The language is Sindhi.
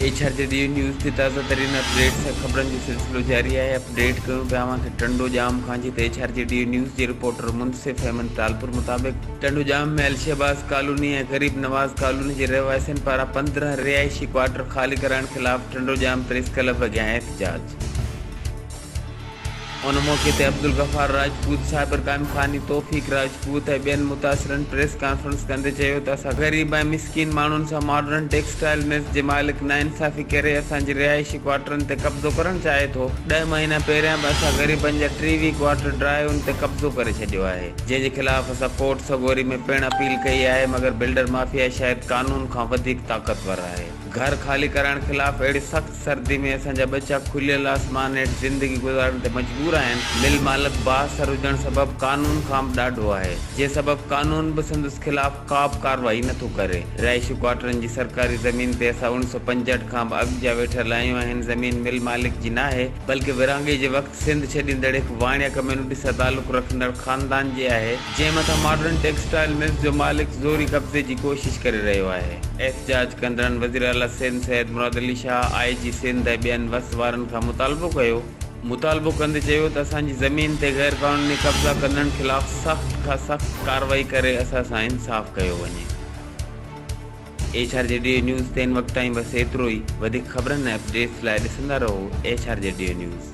ايڇا جي ڊي نيوز تي تازه ترين اپ ڊيٽ سان خبرن جو سلسلو جاري آهي اپ ڊيٽ ڪيون پيا اوهان کي ٽنڊو ڄام کان جتي ايڇا جي ڊي نيوز جي رپورٽر منصف احمد ٽالپر مطابق ٽنڊو ڄام ۾ الشهباز ڪالوني ۽ غريب نواز ڪالوني جي رهواسين پاران پندرهن رهائشي ڪوارٽر خالي ڪرائڻ خلاف ٽنڊو ڄام پريس ڪلب اڳيان احتجاج. ان موقعي تي عبدالغفار راجپوت، صابر ڪانفاني، توفيق راجپوت ۽ ٻين متاثرن پريس ڪانفرنس ڪندي چيو ته اسان غريب ۽ مسڪين ماڻهن سان ماڊرن ٽيڪسٽائيل ملز جي مالڪ ناانصافي ڪري اسان جي رهائشي ڪوارٽرن تي قبضو ڪرڻ چاهي ٿو، ڏهه مهينا پهريان به اسان غريبن جا ٽيويهه ڪوارٽر ڊرائون تي قبضو ڪري ڇڏيو آهي، جنهن جي خلاف اسان ڪورٽ سڳوري ۾ پڻ اپيل ڪئي آهي مگر بلڊر مافيا شايد قانون کان وڌيڪ طاقتور آهي، گهر خالي ڪرائڻ خلاف اهڙي سخت. سردي ۾ اسان جا ٻچا کليل آسمان هيٺ زندگي گذارڻ تي مجبور آهن. مل مالڪ بااثر هجڻ سبب قانون کان به ڏاڍو آهي، جنهن سبب قانون به سندس خلاف ڪا به ڪارروائي نه ٿو ڪري. رهائشي ڪوارٽرن جي سرڪاري زمين تي اسان اوڻيھ سؤ پنجهٺ کان به اڳ جا ويٺل آهيون ۽ هن زمين مل مالڪ جي ناهي، بلڪه ورهاڱي جي وقت سنڌ ڇڏيندڙ هڪ واڻيا ڪميونٽي سان تعلق رکندڙ خاندان جي آهي. جنهن مٿان ماڊرن ٽيڪسٽائيل ملز جو مالڪ زوري قبضي جي ڪوشش ڪري رهيو آهي. احتجاج ڪندڙن وزيراعليٰ سنڌ سيد مراد علي شاهه، آء جي سنڌ ۽ ٻين وس وارن کان مطالبو ڪيو. مطالبو ڪندي چيو ته اسان جي زمين تي غيرقانوني قبضا ڪندڙن خلاف سخت کان سخت ڪارروائي ڪري اسان سان انصاف ڪيو وڃي. H R G D news تي هن وقت تائين بس ايترو ئي. وڌيڪ خبرن ۽ اپڊيٽس لاء ڏسندا رهو H R G D news.